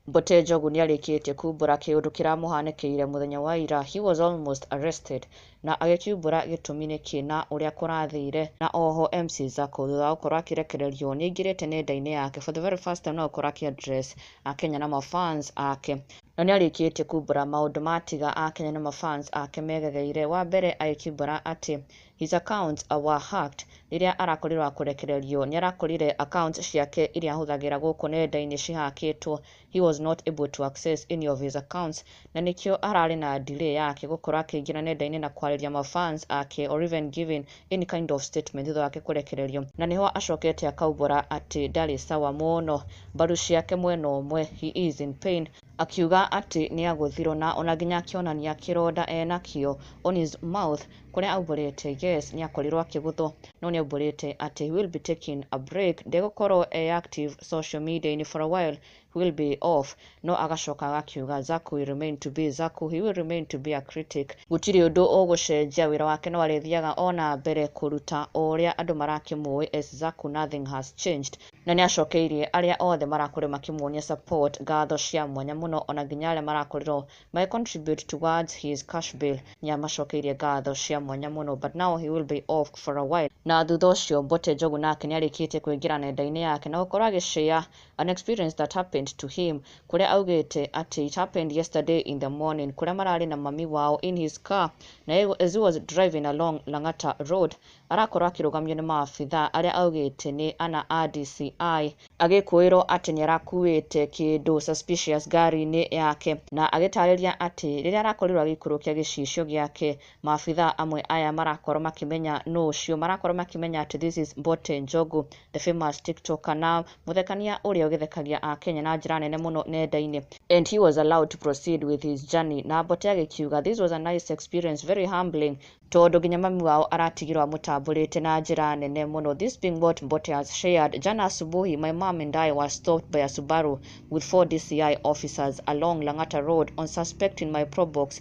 Mbote Njogu nĩarĩkĩtie kumbũra kĩũndũ kĩramũhanĩkĩire mũthenya wa ira he was almost arrested na agĩkiumbũra gĩtũmi nĩkĩ na ũrĩa kũrathire na oho MC Zako thutha wa gũkorwo akĩrekererio nĩaingĩrĩte nenda-inĩ yake for the very first time no gũkorwo akĩ address Akenya na ma fans ake Na nĩarĩkĩtie kumbũra maũndũ ma tiga a Kenya na ma fans ake megegeire, wa mbere agĩkimbũra atĩ his accounts were hacked rĩrĩa arakorirwo wa kũrekererio, nĩarakorire accounts ciake iria ahũthagĩra gũkũ nenda-inĩ cihakĩtwo, he was not able to access any of his accounts, na nĩkĩo ararĩ na delay yake gũkorwo akĩingĩra nenda-inĩ na kwarĩria ma fans ake or even giving any kind of statement thutha wake kũrekererio na nĩho acokete akaumbũra atĩ ndarĩ sawa mũno, mbaru ciake mwena ũmwe, he is in pain, akiuga atĩ nĩagũthirwo na ona nginya akĩonania kĩronda enakĩo on his mouth kũrĩa aumbũrĩte yes nĩakorirwo akĩgũthwo no nĩaumbũrĩte atĩ he will be taking a break, ndegũkorwo e active social media-inĩ for a while will be of no agacoka agakiuga Zack will remain to be Zack he will remain to be a critic gũtirĩ ũndũ ũgũcenjia wĩra wake no arĩthiaga o na mbere kũruta o ũrĩa andũ marakĩmũĩ as Zack nothing has changed na nĩacokeirie arĩa othe marakorirwo makĩmuonia support ngatho cia mwanya mũno ona nginya arĩa marakorirwo magĩ contribute towards his cash bill nĩamacokeirie ngatho cia mwanya mũno but now he will be off for a while na thutha ũcio Mbote Njogu nake nĩarĩkĩtie kũingĩra nenda-inĩ yake na gũkorwo agĩshare An experience that happened to him kũrĩa augĩte atĩ it happened yesterday in the morning kũrĩa mararĩ na mami wao in his car na as he was driving along Lang'ata road arakorwo akĩrũgamio nĩ maabithaa arĩa augĩte nĩ ana a DCI agĩkũĩrwo atĩ nĩarakuĩte kĩndũ suspicious ngari-inĩ yake na agĩtarĩria atĩ rĩrĩa arakorirwo agĩikũrũkia gĩcicio gĩake maabitha amwe aya marakorwo makĩmenya nũ ũcio, marakorwo makĩmenya atĩ this is Mbote Njogu, the famous tiktoker na mũthekania ũrĩa ũgĩthekagia Akenya na njĩra nene mũno nenda-inĩ. And he was allowed to proceed with his journey na Mbote agĩkiuga this was a nice experience, very humbling, tondũ nginya mami wao aratigirwo amũtambũrĩte na njĩra nene mũno. This being what Mbote has shared, Jana asubuhi my mom and I were stopped by a Subaru with four DCI officers along Lang'ata Road on suspecting my probox